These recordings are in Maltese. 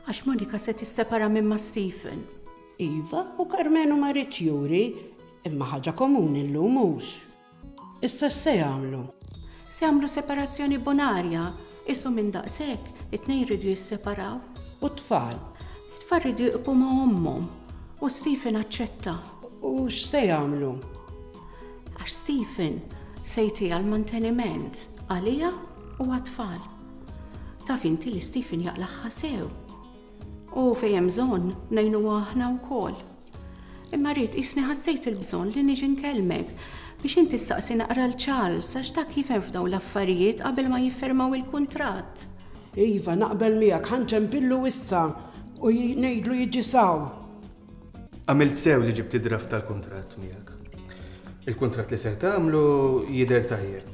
Għax Monika se tissepara minn ma' Stephen. Iva, u Karmenu ma rridx juri, imma ħaġa komuni llum hux. Issa x'se jagħmlu? Se jagħmlu separazzjoni bonarja, isu minn daqshekk, it-tnejn jridu jisseparaw. U t-tfal? It-tfal jridu jqbu ma' ommhom, u Stephen aċċetta. U x'se jagħmlu? Għax Stephen se jtiha l-manteniment għaliha u għat-tfal. Taf inti li Stephen jaqlagħha sew. U fejn hemm bżonn ngħinuha aħna wkoll. Imma rrid qisni ħassejt il-bżonn li niġi nkellmek biex inti ssaqsi naqra l Charles għax dak jifhem f'dawn l-affarijiet qabel ma jiffermaw il-kuntratt. Iva, naqbel miegħek, ħanċempillu issa u ngħidlu jiġi saw. Għamilt sew li ġibt id-draft tal-kuntratt miegħek. Il-kuntratt li ser tagħmlu jidher tajjeb.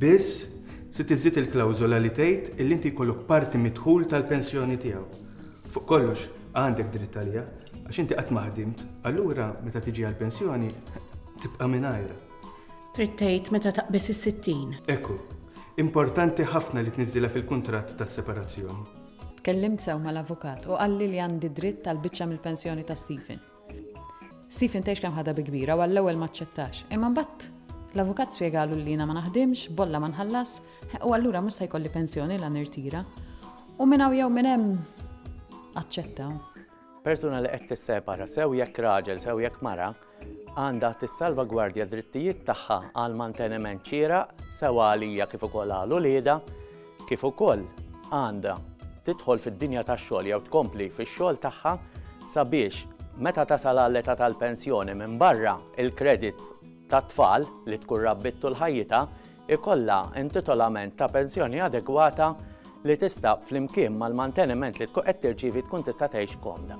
Biss, trid iżżid il-klawżola li tgħid illi inti jkollok parti mid-dħul tal-pensjoni tiegħu. Fuq kollox, għandek dritt għaliha, għax inti qatt ma ħdimt, allura meta tiġi għall-pensjoni, tibqa' mingħajrha. Trid tgħid meta taqbeż is-sittin. Ekku, importanti ħafna li tniżżilha fil-kuntratt tas-separazzjoni. Tkellimt sew mal-avukat u qalli li għandi dritt għal biċċa mill-pensjoni ta' Stephen. Stephen tgħix kemm ħadha bi kbira u għall-ewwel ma ċċettax, imma mbagħad l-avukat spjegalu li jiena ma naħdimx, bolla ma nħallas, u allura mhux se jkolli pensjoni la nirtira. U minn hawn jew minn hemm aċċetta. Persuna li qed tissepara sew jekk raġel sew jekk mara, għandha tissalvagwardja d-drittijiet tagħha għal manteniment xieraq sewa għalija kif ukoll għal uliedha, kif ukoll għandha tidħol fid-dinja tax-xogħol jew tkompli fix-xogħol tagħha sabiex meta tasal għall-età tal-pensjoni minbarra l-credits tat-tfal li tkun rabbiet tul ħajjitha ikollha intitolament ta' pensjoni adegwata li tista', flimkien mal-manteniment li tkun qed tirċievi tkun tista' tgħix komda.